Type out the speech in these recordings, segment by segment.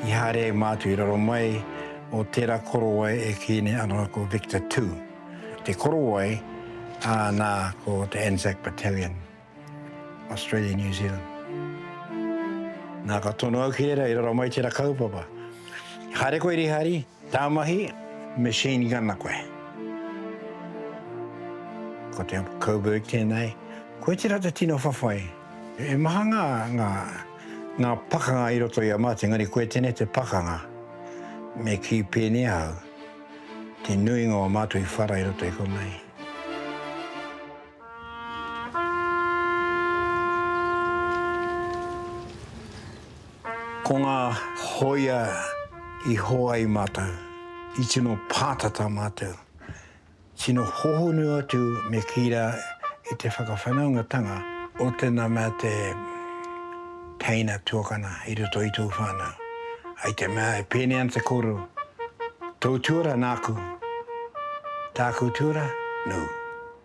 I haere ai mātou i raro mai o tērā korowai e kī nei anō ko Victor Tū te korowai, ā, nā, ko te Anzac Battalion, Australia, New Zealand. Nā, ka tono au ki reira i raro mai tērā kaupapa. Haere koe Rihari. Tāu mahi, me Shane ki ana koe. Ko te Uncle Coburg tēnei. Koe tērā te tino whawhai. He maha ngā, ngā, ngā pakanga i roto i a mātou, engari koe tēnei te pakanga. Me kī pēnea au, te nuinga o mātou i whara i roto i konei. Ko ngā hōia i hoa ai mātou, i tino pātata mātou, tino hohonu atu me kī rā i te whakawhanaungatanga o tēnā mea te teina tuakana i roto i tōu whānau. I te mea e pēnei ana te kōrero, Tōu tuara nāku, tāku tuara nōu.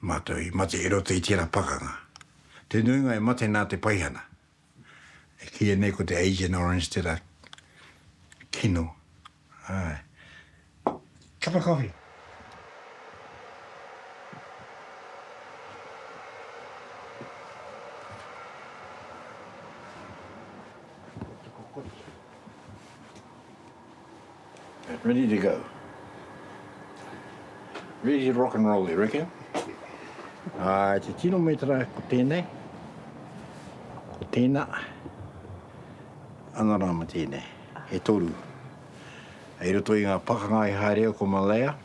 Mātou i mate i roto i tērā pakanga. Te nuinga i mate nā te paihana. E kīia nei ko te Agent Orange tērā kino. Āe. Cup of coffee. Ready to go. Ready to rock and roll, you reckon? Ā, te tino metra ko tēnei, ko tēnā, ana rā ma tēnei, e toru. Hei roto i ngā pakanga i haere au ko Malaya,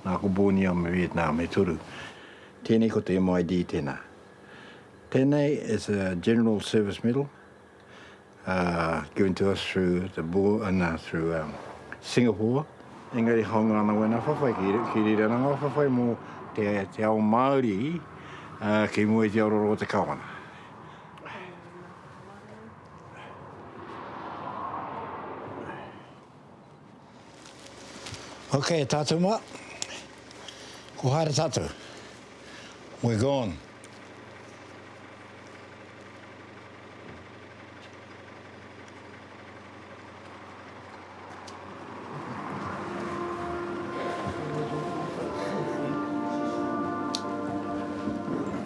nā ko Borneo me Vietnam, e toru. Tēnei ko te MID tēnā. Tēnei is a General Service Medal, given to us through the board, uh, no, through um, Singapore. Engari haunga ana wena whawhai, ki, ki rira ana ngā whawhai mō te, te ao Māori uh, ki mua i te ororo o te kawana. Ok tātou mā, ko haere tātou. We're gone.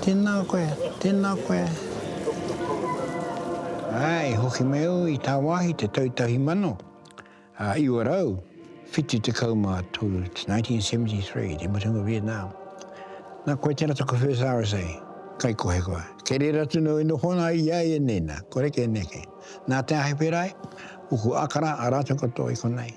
Tēnā koe, tēnā koe. Ā, i hoki mai au i tāwāhi te tau tahi mano, ā, iwa rau, whitu tekau mā tolu, it's 1973, te mutunga Vietnam. Nā, koe tērā taku first RSA, kaikohe koa. Kei reira atu nō i noho ana i a ia nei, nā, kore kē neke. Nā te Ahi Pērā ai, uku akara a rātou katoa i konei.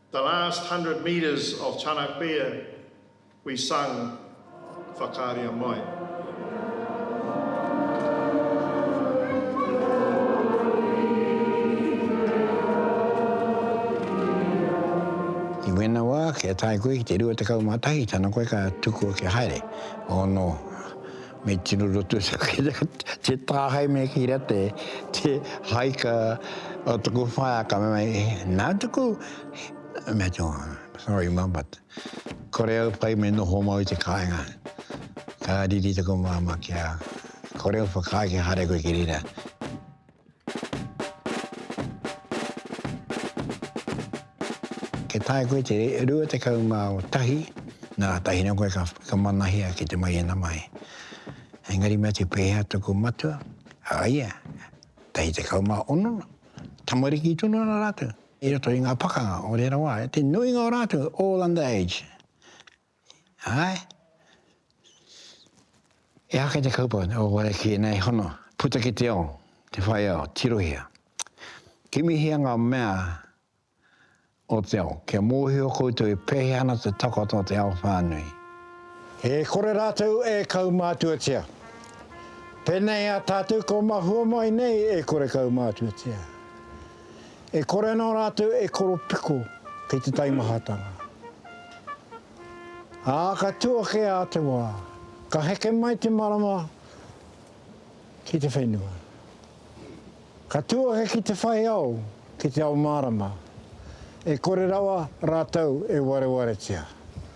The last hundred metres of Tana Kuia we sung Whakaaria mai. I wēnā wā, kia tae koe ki te 21 tana koe ka tukua kia haere, oh no. Me tino roto te tāhae me ki ra te te haika o tuku whaea ka mea e nā tuku me tō sorry mum but kore au whai me noho mau i te kāinga ka riri tuku māma ki a kore au whakāi ki hare koe ki rira Kia taea koe te 21 nā tahina koe ka whakamanahia ki te maiana mai. Engari mea te pēhea tuku matua, a ia, tahi 16, tamariki tonu ana rātou, i roto i ngā pakanga o reira wā, te nuinga o rātou all under age. Āe. He aha kei te kaupapa o Warekie nei hono, puta ki te ao, te whai ao, tirohia. Kimihia ngā mea o te ao, kia mōhio koutou i pēhea ana te takoto o te ao whānui. E kore rātou e kaumātuatia. Pēnei a tātou kua mahua mai nei e kore kaumātuatia. E kore ana rātou e koropiko kei te taimahatanga. Ā, ka tū ake ā te wā, ka heke mai te marama ki te whenua. Ka tū ake ki te whai ao, ki te ao mārama, e kore rawa rātou e warewaretia.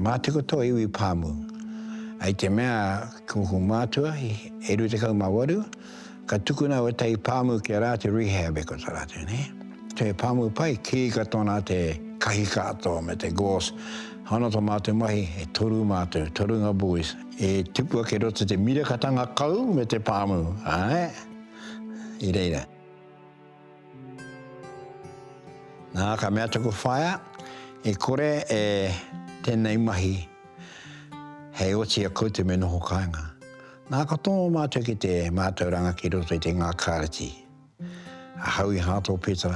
Mātiko tō iwi pāmu. I te mea ko kou mātua i e rua tekau mā waru, Ka tukuna wetahi pāmu ki a rā te rehab e kota rātou, nē. Te pāmu pai, kīika tōna te kahikaato me te gauze. Ana tō mātou mahi, e toru mātou, torunga boys, e tipua kei roto te mirakatanga kau me te pāmu, āe, i reira. Nā, ka mea taku whaea, e kore e tēnei mahi hei oti a koutou me noho kāinga. Nā ka tono mātou ki te mātauranga ki roto i te Ngā Kāreti a Howie Hartle Peta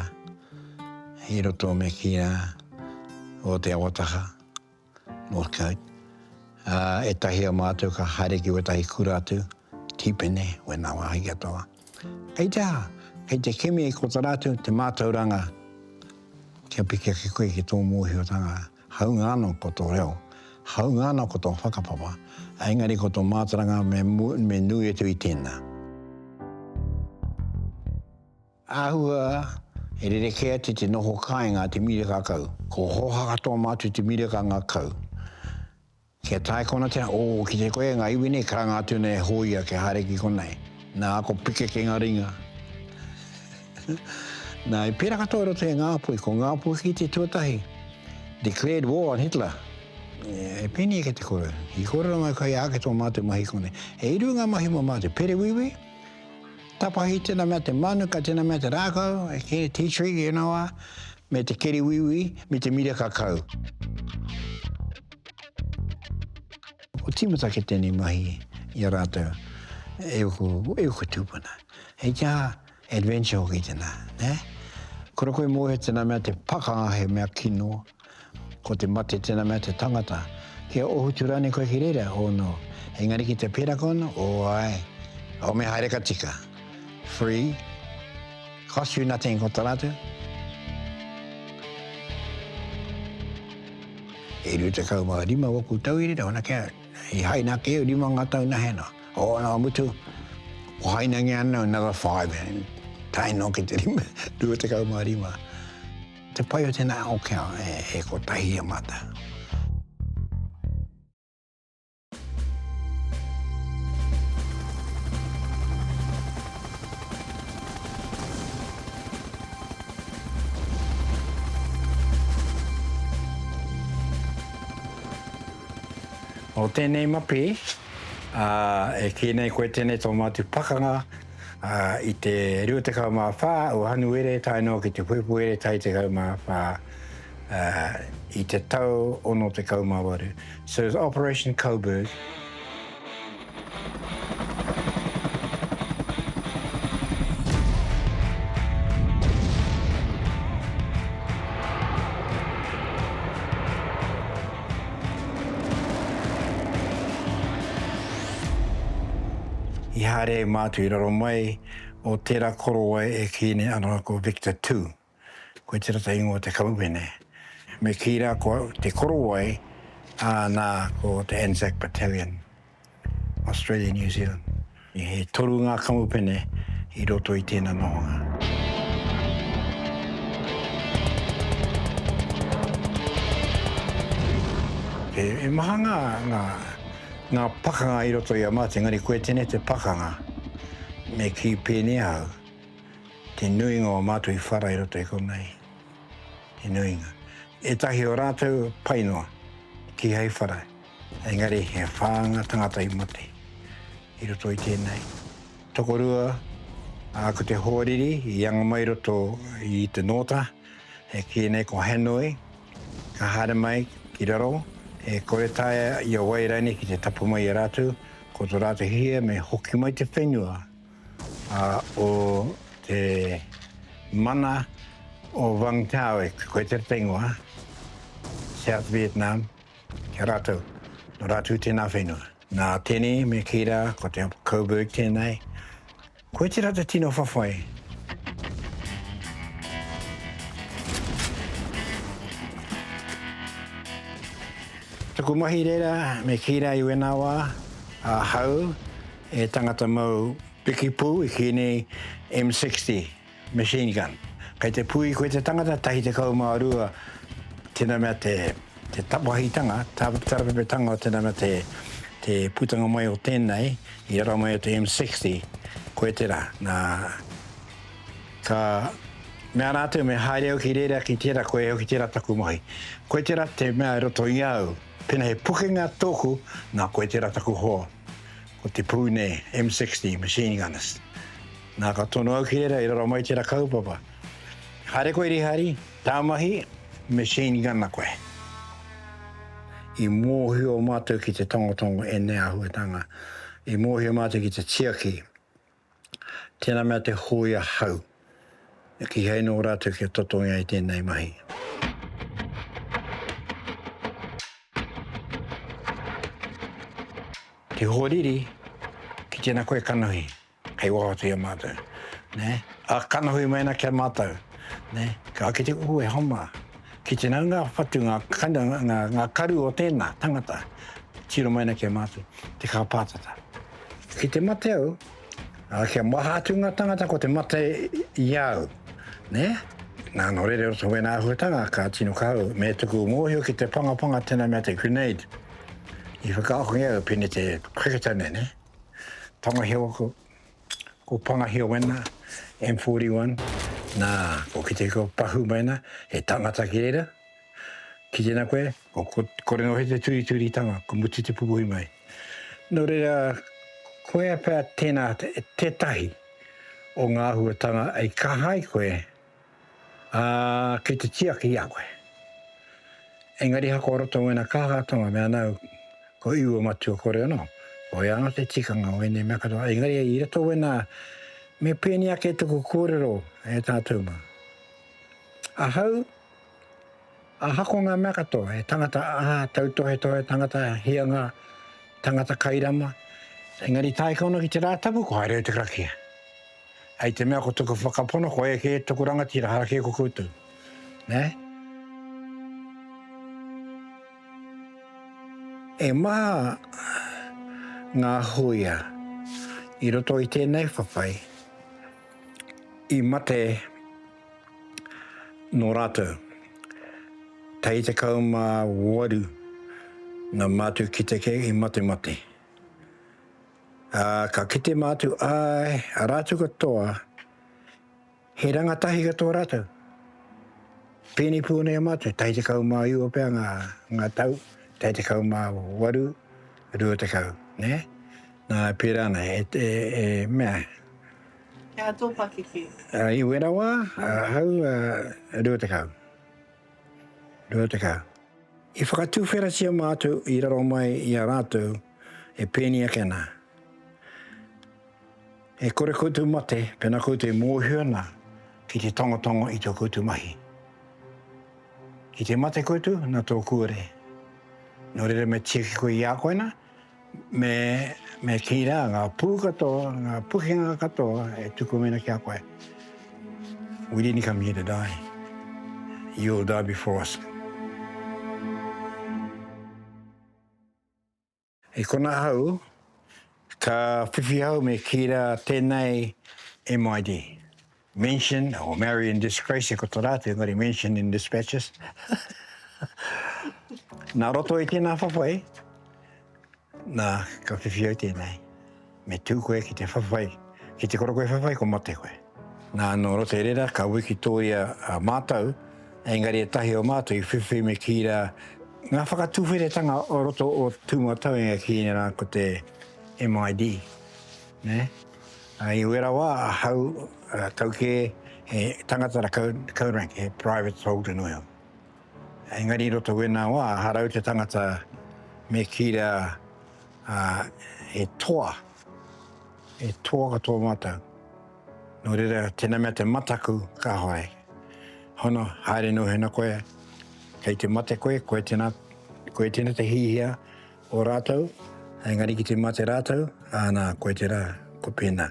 i roto me Kīnā o Te Awataha, Northcote. Ā, ētahi o mātou ka haere ki wētahi kura atu, tīpene, wēnā wāhi katoa. Kei te aha? Kei te kimi i kotara atu te mātauranga kia piki ake koe ki tō mōhiotanga. Hāunga anō ko tō reo, hāunga anō ko tō whakapapa, engari ko tō mātaranga me nui atu i tēnā. Āhua, he rerekē atu te noho kāinga a te mīreka kau. Ko Hōhaka tō mātou te mīreka ngakau. Kia tae konatia, o, ki te koe nga iwi nei, karanga atu nei e Hoia kia haere ki konei. Na, ko Pikeke nga ringa. Na, i pera katoa i roto i a Ngapui, ko Ngapuhi te tuatahi, declared war on Hitler. E pēnei ake te koro. I kōrero mai koe, ake tō mātou mahi konei. E iru nga mahi mo mātou, perewiwi, tapahi, tena mea te manuka, tena mea te rākau, e kē, tea tree, e na wa, me te keriwiwi, me te mira kakau. Ko tīmata ki tēnei mahi i a rātou e uku, e uku tūpuna. Hei te aha, adventure hoki tēnā, nē? Kura koe mōhio tēnā mea te pakanga he mea kino, ko te mate tēnā mea te tangata. Kia ohutu rānei koe ki reira, oh no. Engari ki te pēraka ono, oh āe. Ome haere ka tika. Free. Cost you nothing ko ta ratu. E riu te kau ma rima waku tau iri rau na kia i hai na keo rima nga tau na hena. O na mutu o hai na ngi ana another five and tai no ke te rima riu te kau ma rima. Te pai o tena o kia e, e ko tahi a mata. Nō tēnei mapi, e kī nei koe tēnei tō mātou pakanga i te 24 o Hanuere tae noa ki te Puepuere tai 14. i te tau 68. So it was Operation Coburg. I haere mātou i raro mai o tērā korowai e kī nei anō ko Victor Two. Koe te rata ingoa o te Kauwene. Me kī rā ko au te korowai, ā, nā, ko te Anzac Battalion, Australia, New Zealand. E toru ngā kamupene i roto i tēnā nohonga. He maha ngā, ngā, ngā pakanga i roto i a mātou, engari koe tēnei te pakanga. Me kī pēnei au. Te nuinga o mātou i whara i roto i konei. Te nuinga. Ētahi o rātou pai noa ki hei whara, engari he whā ngā tangata i mate i roto i tēnei. Tokorua, ā, ko te hoariri i anga mai i roto i te nōta, e kī nei ko Hanoi, ka haere mai ki raro, e kore taea i a wai rānei ki te tapu mai i a rātou, ko tō rātou hihia me hoki mai te whenua. Ā, o te mana o Vang Tau e Queter Pengwa, South Vietnam, ki a rātou, nō rātou tēnā whenua. Nā Teni me Kira, ko te Coburg tēnei, koe tērā te tino whawhai. Tuku mahi reira me Kira i wēnā wā, ahau, He tangata mau piki pū i kī nei M60 machine gun. Kei te pū i koe te tangata tahi tekau mā rua tēnā mea te te tapahitanga, tarapepetanga o tēnā mea te te putanga mai o tēnei i raro mai o te M60, koe tērā. Nā, ka mea rātou me haere au ki reira ki tērā, koe hoki tērā taku mahi. Koe tērā te mea i roto i au, pēnā he pukenga tōku, nā koe tērā taku hoa. ko te pū nei, M60, Machine Gunners. Nā, ka tono au ki reira, i raro mai tērā kaupapa. Haere koe Rihari, tā mahi, Machine Gunner koe. I mōhio mātou ki te tongotongo ēnei āhuatanga, i mōhio mātou ki te tiaki, Tēnā mea te hōia hau. Kīhai nō rātou kia totongia i tēnei mahi. Te hōriri, ki tēnā koe kanohi, kei waho atu i a mātou. Ne? A kanohi mai ana ki a mātou. Ne? Ka ake te kuku e homa. Ki tēnā ngā whatu, ngā, ngā, ngā karu o tēnā tangata, tiro mai ana ki a mātou, te kāpātata. I te mate au, a, kia maha atu ngā tangata ko te mate i a au. Ne? Nā, nō reira roto wēnā āhuatanga ka tino kahau, me tuku mōhio ki te pangapanga tēnā mea te grenade. I whakaahongia au pēnei te cricketer nei, ne? Tangaheo aku, ko Pangahio wēnā, M41, nā, ko Kitiko Pahu mēnā, he tangata ki reira, Ki tēnā koe, ko, ko, ko rengo he te turituritanga, ko mutu te pupuhi mai. Nō reira, koia pea tēnā te, tētahi o ngā āhuatanga ei kaha ai koe, ā, kei te tiaki i a koe. Engari hako roto ngōna kāhātanga me anau, ko iu o matua kore anō. Ko ia anō te tikanga o ēnei mea katoa. Engari i roto wēnā, me pēni ake tuku kōrero e tātou mā. Ahau, Ahako ngā mea katoa, he tangata aha, tautohetohe tangata, hianga, tangata kairama, engari tāika ona ki te Rātapu, ko haere au te karakia. Hei te mea ko tuku whakapono, ko eke tuku rangatira, hara kē ko koutou. Nē? E maha ngā huia i roto i tēnei whawhai i mate Nō rātou. Tahi 18 ngā mātua ki te kea i matemate. Ā, ka kite mātou, āe, a rātou katoa, he rangatahi katoa rātou. Pēnei pū nei a mātou, tahi 19 pea ngā, ngā tau, tahi 18, 20, nē? Nā, pērā nei, e, e, e mea, He aha tō pakeke? I wera wā, ahau 20. 20. I whakatuwheratia mātou i raro mai i a rātou e pēni ake ana. E kore koutou mate pēnā koutou e mōhio ana ki te tangotango i tō koutou mahi. Ki te mate koutou nā tō kūare. Nō reira me tiaki koe i a koe na, Me, me kī rā, ngā pū katoa, ngā pukenga katoa e tuku ana ki a koe. We didn't come here to die. You will die before us. I kona hau, ka whiwhi hau me kī rā, tēnei MID. Mention or marry in disgrace e koto rā atu engari mention in dispatches. Nā roto i tēnā whawhai, nā, ka whiwhi au tēnei. Me tū koe ki te whawhai, ki te koro koe whawhai, ko mate koe. Nā, nō roto i reira, ka wiki tōia a mātou, engari ētahi o mātou i whiwhi me kī rā, ngā whakatuwheretanga o roto o tū matau e kī nei rā ko te MID, nē? I wera wā ahau tau kē he tangata rakau, kau rank, he private soldier nui au. Engari i roto wēnā wā, harau te tangata me kī rā he toa, he toa katoa mātou. Nō reira, tēnā mea te mataku ka hoai. Hono, haere nō hena koe, kei te mate koe, koe tēnā, koe tēnā te hihia, O rātou, engari ki te mate rātou, āna, koe tērā, koe pēnā.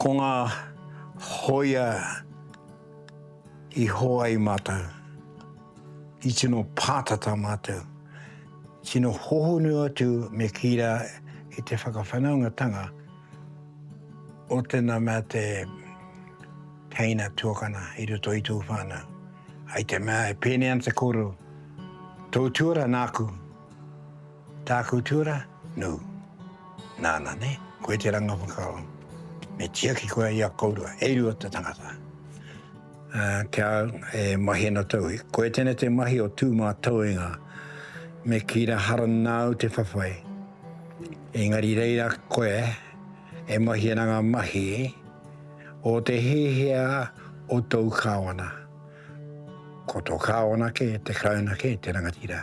Ko ngā hōia i hō ai mātou, i tino pātata mātou, tino hohonu atu me kī rā i te whakawhanaungatanga, o tēnā mea te teina tuakana i roto i tō whānau. Hei te mea e pēnei ana te kōrero, tō tuara nāku, tāku tuara, nū. Nāna, ne? Koe te ranga whakaaro. Me tiaki koe i a kōrua, e rua te tangata. Ā, ki a au, e mahi ana tauwi. Koia tēnei te mahi o Tūmātauenga. Me kīra harana au te whawhai. Engari reira koe e mahi ana ngā mahi o te hiahia o tōu kāwana. Ko tō kāwana kē, te Karauna kē, te rangatira.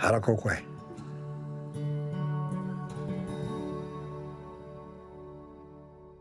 Harako koe.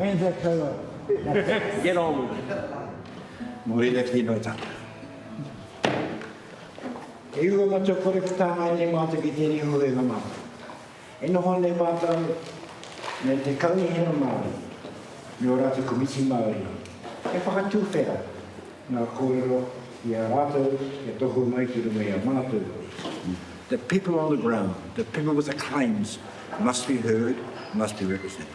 Anzac Taylor. Get on with it. Muri le tino i tata. E iwa matua kore ki tāngai nei mātou ki tēnei huhenga mātou. E noho nei mātou me te kaunihera Māori, me o rātou komiti Māori. E whakatūwhera ngā kōrero i a rātou e tohu mai ki runga i a mātou. The people on the ground, the people with the claims must be heard, must be represented.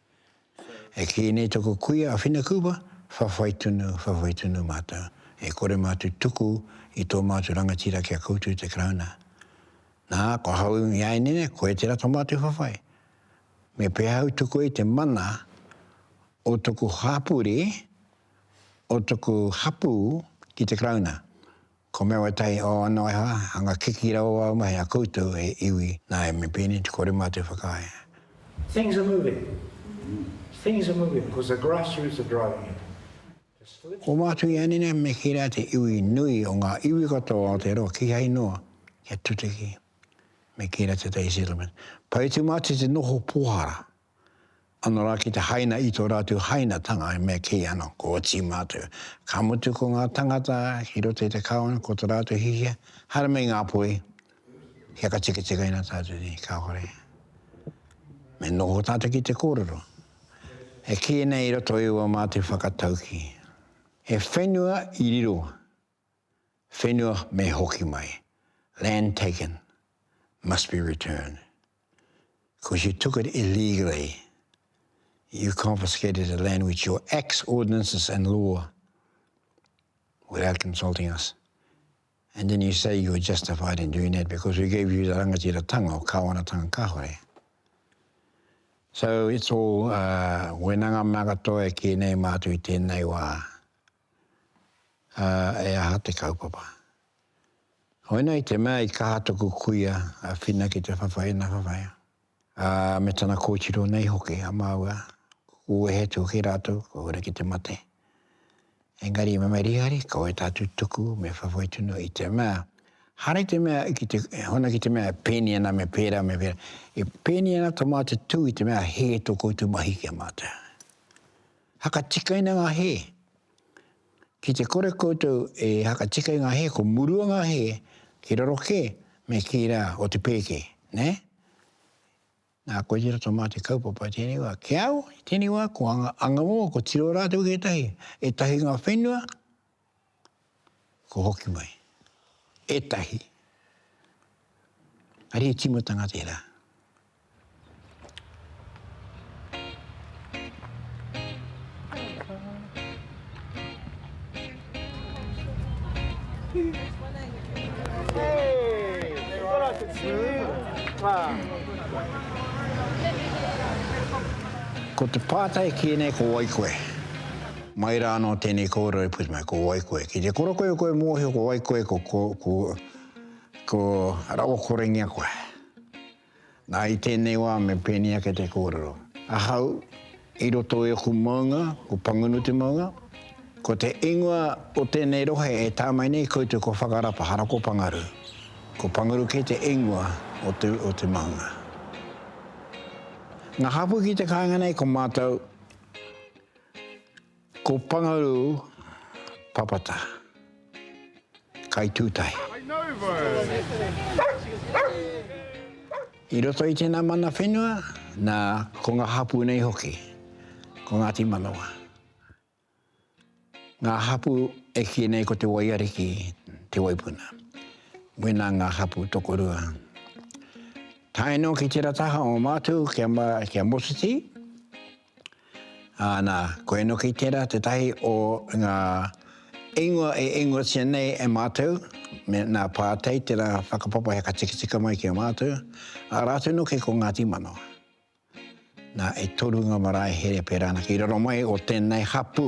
E kī nei taku kuia a Whinakuwa, whawhai tunu, whawhai tunu mātou. E kore mātou tuku i tō mātou rangatira kia koutou te Karauna. Nā, ko ahau i āianei, koe tērā tō mātou whawhai. Me pēhea ahau tuku ai te mana o taku hapori, o taku hapū ki te Karauna? Ko Mewatai o Anoeha, hanga kiki rawa au mai a koutou e iwi na e Mipene te kore ma te whakaae. Things are moving, things are moving because the grassroots are driving it. The solution. Ko Mātuianina me Kira te iwi nui o nga iwi katoa o Aotearoa kihai noa kia tutiki me Kira Te Tai Settlement. Paetumati te noho pohara Ano ra ki te haina i to ratou hainatanga e mea kei ano ko oti matou. Ka mutu ko nga tangata ki roto i te kawana ko to ratou hihia, haere mai nga poi, hiaka tiketike na tatou nei, kahore. Me noho tatou ki te korero. E ki nei i roto i ua mate whakatauki. He whenua i riro. Whenua me hoki mai, land taken must be returned, because you took it illegally, you confiscated the land with your acts, ordinances and law, without consulting us, and then you say you were justified in doing that because we gave you the rangatiratanga o Kawanatanga kahore. So it's all, uh, wena nga mea katoa e ki nei mātou i tenei wā, Ā, e aha te kaupapa? Koinei te mea i kaha taku kuia a Whina ki te whawhai ina whawhai, ā, me tana kōtiro nei hoki a māua, kua wehe atu hoki rātou, kua huri ki te mate. Engari, Mamerihari, ko wai tā tutuku me whawhai tonu i te mea, haere te mea ki te, hona ki te mea e pēnei ana me pērā me pērā, e pēnei ana tā mātou tū i te mea hē tō koutou mahi ki a mātou. Hakatikaina ngā hē. Ki te kore koutou e hakatika i ngā hē, ko murua ngā hē, ki raro kē, me kī rā, o te pēke, nē? Nā, koe tērā tō mātou kaupapa i tēnei wā. Ki au, i tēnei wā, ko Angamoa, ko Tiroa rātou kētahi. Ētahi o ngā whenua, Ko hoki mai. Etahi. Ari timatanga tera. Ko te pātai ki ēnei ko wai koe? Mai rā anō tēnei kōrero e puta mai, ko wai koe? Ki te koro koe koe mōhio ko wai koe, ko, ko, ko, ko rawa korengia koe. Nā, i tēnei wā me pēnei ake te kōrero. Ahau, i roto i aku maunga, ko Pangunu te maunga, ko te ingoa o tēnei rohe e tā mai nei koutou ko Whakarapa, hara ko Pangaru. Ko Pangaru kē te ingoa o te, o te maunga. Ngā hapū ki te kāinga nei ko mātou, Ko Pangaru Papata, kaitūtahi. I roto i tēnā mana whenua, nā, ko ngā hapū nei hoki, ko Ngāti Manawa. Ngā hapū e kī nei ko te waiariki te waipuna. Wēnā ngā hapū tokorua. Tae noa ki tērā taha o Mātou, ki a Moseti, Ā, nā, ko Enoki tērā, tētahi o ngā ingoa e ingoatia nei e mātou, me nā Pātei tērā whakapapa hei ka tikitika mai ki a mātou, ā rātou noke ko Ngāti Manawa. Nā, e toru ngā marae here pērā anake i raro mai o tēnei hapū,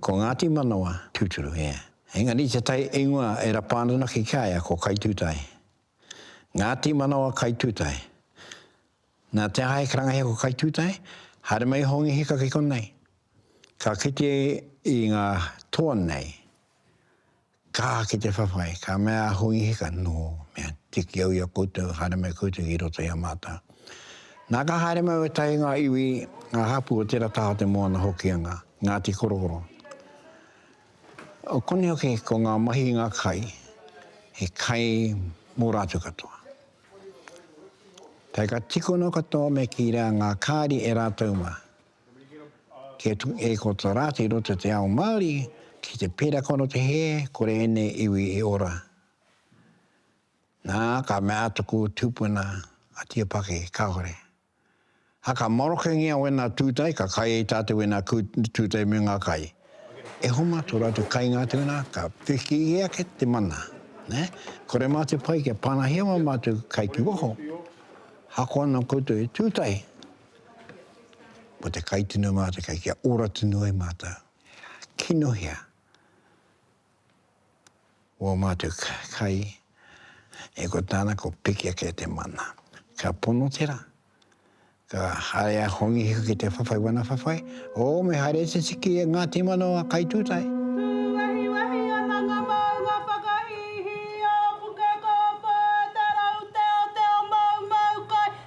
Ko Ngāti Manawa tūturu, ē. Engari i te tai ingoa e rapa ana anake ki a ia ko Kaitūtae. Ngāti Manawa Kaitūtae. Nā te aha he karangahia ko Kaitūtae? Haere mai i Hongi Hika ki konei. Ka kite i ngā toa nei, Ka ki te whawhai, ka mea a Hongi Hika, Nō, mea tiki au i a koutou, haere mai koutou ki roto i a mātou. Nā, ka haere mai wētahi o ngā iwi, ngā hapū o tērā taha o te moana Hokianga, Ngāti Korokoro. O konei hoki ko ngā mahi i ngā kai, he kai mō rātou katoa. Tae ka tikona katoa me kīrea ngā kāri e rātou mā. Kia tu e ko ta ra te rota te ao Maori ki te pera kono te he kore enei iwi i ora. Na ka mea a taku tupuna a Tia Pake kahore. Haka marokengia wena tutai ka kai e ta te wena tutai me nga kai. E homa to ratu kai nga te wena ka piki i ake te mana. Ne? Kore ma te pai kia panahia ma matu kai ki waho. Hako ana koutou e tutai. Ko te kai tino mātou, kai kia ora tino ai mātou. Kinohea wō mātou kai, e ko tāna ko piki ake te mana. Ka pono te rā, ka haere a Hongi Hiku ki te whawhai wana whawhai, o me haere te tiki e Ngāti Manawa a Kai Tūtai.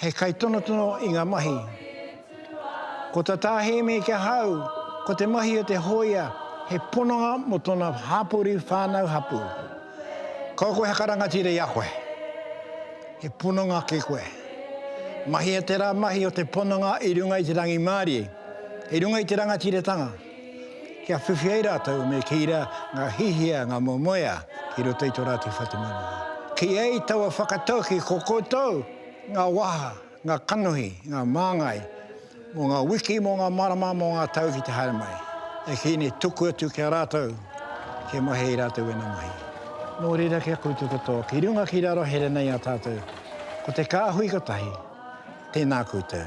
He kaitonotono i ngā mahi. Ko tā Tā Hēmi ki ahau, ko te mahi o te hōia he pononga mō tōna hapori whānau hapū. Kau koe haka rangatira i a koe. He pononga ki koe. Mahia te rā mahi o te pononga i runga i te rangimārie, i runga i te rangatiratanga. kia whiwhi ai rātou me kī rā ngā hihiā, ngā moemoeā ki roto i tō rātou whatumanawa. Kī ai taua whakataukī ko koutou ngā waha, ngā kanohi, ngā māngai mō ngā wiki, mō ngā marama, mō ngā tau ki te haere mai. E kī nei tuku atu ki a rātou kia mahi i rātou ēnā mahi. Nō reira kia koutou katoa ki runga ki raro here nei a tātou ko te kāhui kotahi, tēnā koutou.